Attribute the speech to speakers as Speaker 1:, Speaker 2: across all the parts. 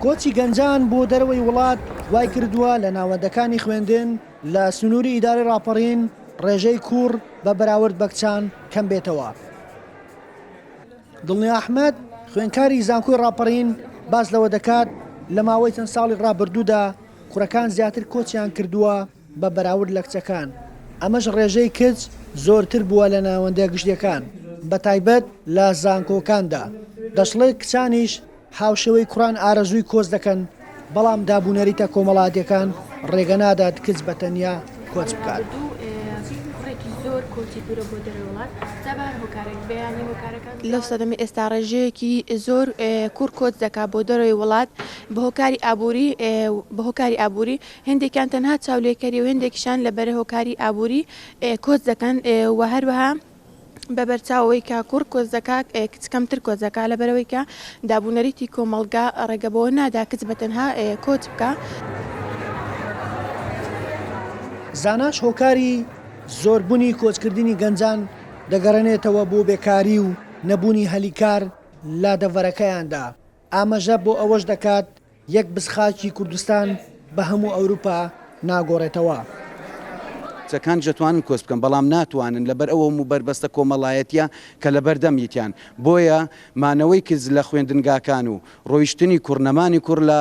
Speaker 1: کۆچی گەنجان بۆ دەرەوەی وڵات وای کردووە لە ناوەندەکانی خوێندن لە سنووری ئیدارەی ڕاپەڕین ڕێژەی کوڕ بە بەراورد بە کچان کەم بێتەوە. دڵنیا ئەحمەد خوێنکاری زانکۆی ڕاپەڕین باس لەوە دەکات لە ماوەی چەند ساڵی ڕابردوودا کوڕەکان زیاتر کۆچیان کردووە بە بەراورد لە کچەکان، ئەمەش ڕێژەی کچ زۆرتر بووە لە ناوەندە گشتییەکان، بە تایبەت لە زانکۆکاندا، دەشڵێت کچانیش هاوشێوەی کوڕان ئارەزووی کۆچ دەکەن، بەڵام دابونەریتە کۆمەڵاتییەکان ڕێگە نادات کچ بە تەنیا کۆچ بکات.
Speaker 2: لە سەردەمی ئێستا ڕێژەیەکی زۆر کوڕ کۆچ دەکات بۆ دەرەوەی وڵات بە هۆکاری ئابووری، هێندێکیان تەنها چاولێکەری و هێندێکیشیان لە بەرە هۆکاری ئابووری کۆچ دەکەن و هەروەها بە بەرچاوەوەی کە کوڕ کۆچ دەکا کچ کەمتر کۆچ دەکا لە بەرەوەی کە دابوونەریتی کۆمەڵگا ڕێگە بەوە نادا کچ بە تەنها کۆچ بکا.
Speaker 1: زاناش هۆکاری زۆر بونی کۆچ کردنی گەنجان دەگەڕێنێتەوە بۆ بێکاری و نەبوونی هەلی کار لادەڤەرەکەیاندا. ئاماژە بۆ ئەوەش دەکات، یەک بز خاکی کوردستان بە هەموو ئەوروپا ناگۆڕێتەوە. کچەکان
Speaker 3: جەتوانن کۆچ بکەن بەڵام ناتوانن لەبەر ئەو هەموو بەربەستە کۆمەڵایەتیە کە لەبەردەم یتیان بۆیە مانەوەی کچ لە خوێندنگاکان و ڕۆیشتنی کوڕ نەمانی کوڕ لە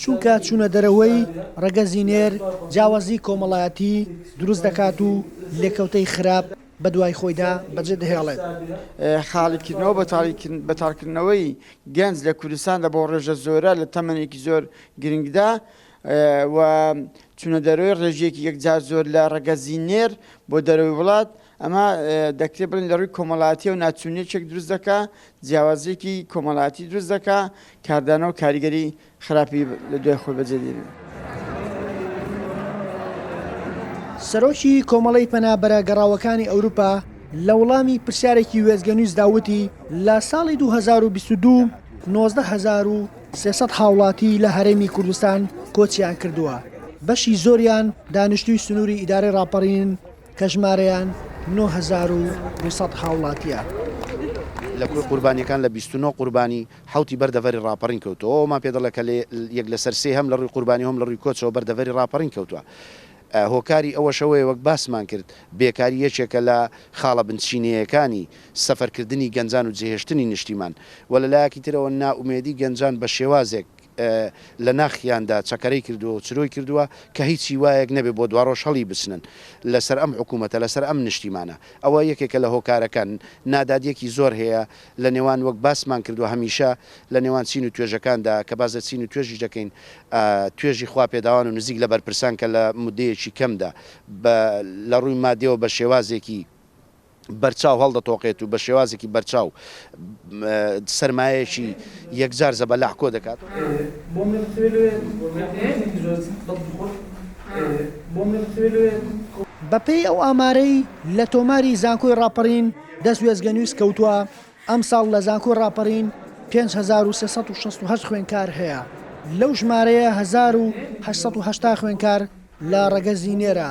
Speaker 1: چونکە چوونە دەرەوەی ڕەگەزی نێر جیاوازی کۆمەڵایەتی دروست دەکات و لێکەوتەی خراپ بەدوای خۆیدا بەجێ دەهێڵێت. خالید
Speaker 4: کردنەوە بۆ تاڵکردنەوەی گەنج لە کوردستاندا بۆ ڕێژە زۆرە لە تەمەنێکی زۆر گرنگدا و چوونە دەرەوەی ڕێژەیەکی یەکجار زۆر لە ڕەگەزی نێر بۆ دەرەوەی وڵات، ئەمە دەکرێت بڵێین لە ڕووی کۆمەڵایەتییەوە ناچوونییەکێک دروست دەکات، جیاوازییەکی کۆمەڵایەتی دروست دەکات کاردانەوە و کاریگەری خراپی لە دوای خۆی بەجێ دێنێ.
Speaker 1: سەرۆکی کۆمەڵەی پەنابەرە گەڕاوەکانی ئەوروپا لە وڵامی پرسیارێکی وێستگەنیوزدا وتی لە ساڵی 2022 نۆزدە هەزار و سێ سەد هاوڵاتی لە هەرێمی کوردستان کۆچیان کردووە بەشی زۆریان دانیشتووی سنووری ئیدارەی ڕاپەڕینن کە ژمارەیان نۆ هەزار و دوو سەد هاوڵاتییە.
Speaker 5: لە کوێ قوربانیەکان لە بیست و نۆ قوربانی حەوتی بەر دەڤەری ڕاپەڕین کەوتووە، ئەوە ئەومان پێ دەڵێت کە لە یەک لەسەر سێی هەم لە ڕووی قوربانی و هەم لە ڕووی کۆچەوە بەر دەڤەری ڕاپەڕین کەوتووە. هۆکاری ئەوەش ئەوەیە وەک باسمان کرد بێکاری یەکێکە لە خاڵە بنچینەیەکانی سەفەر کردنی گەنجان و جێهێشتنی نیشتیمان و لە لایەکی ترەوە نائومێدی گەنجان بە شێوازێک لە ناخیاندا چەکەرەی کردووە و چرۆی کردووە کە هیچ هیوایەک نەبێت بۆ دواڕۆژ هەڵی بچنن لە سەر ئەم حکوومەتە لە سەر ئەم نیشتیمانە. ئەوە یەکێکە لە هۆکارەکان. نادادیەکی زۆر هەیە. لە نێوان وەک باسمان کردوە هەمیشە لە نێوان چین و توێژەکاندا کە باس لە چین و توێژیش دەکەین توێژی خوا پێداوان و نزیک لە بەرپرسان کە لە مودەیەکی کەمدا بە لە ڕووی مادیەوە بە شێوازێکی بەرچاو هەڵدەتۆقێت و بە شێوازێکی بەرچاو سەرمایەکی یەکجار زەبەلاح کۆ دەکات.
Speaker 1: بە پێی ئەو ئامارەی لە تۆماری زانکۆی ڕاپەڕین دەست وێستگەنووس کەوتووە، ئەمساڵ لە زانکۆی ڕاپەڕین پێنج هەزار و سێ سەد و شەست و هەشت خوێندکار هەیە، لەو ژمارەیە هەزار و هەشت سەد و هەشتا خوێندکار لە ڕەگەزی نێرە،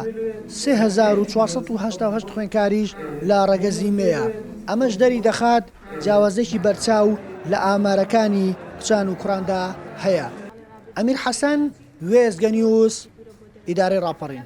Speaker 1: سێ هەزار و چوار سەد و هەشتا و هەشت خوێندکاریش لە ڕەگەزی مێیە، ئەمەش دەریدەخات جیاوازییەکی بەرچاو لە ئامارەکانی کچان و کوڕاندا هەیە. ئەمیر حەسەن، وێستگەنیوز، ئیدارەی ڕاپەڕین.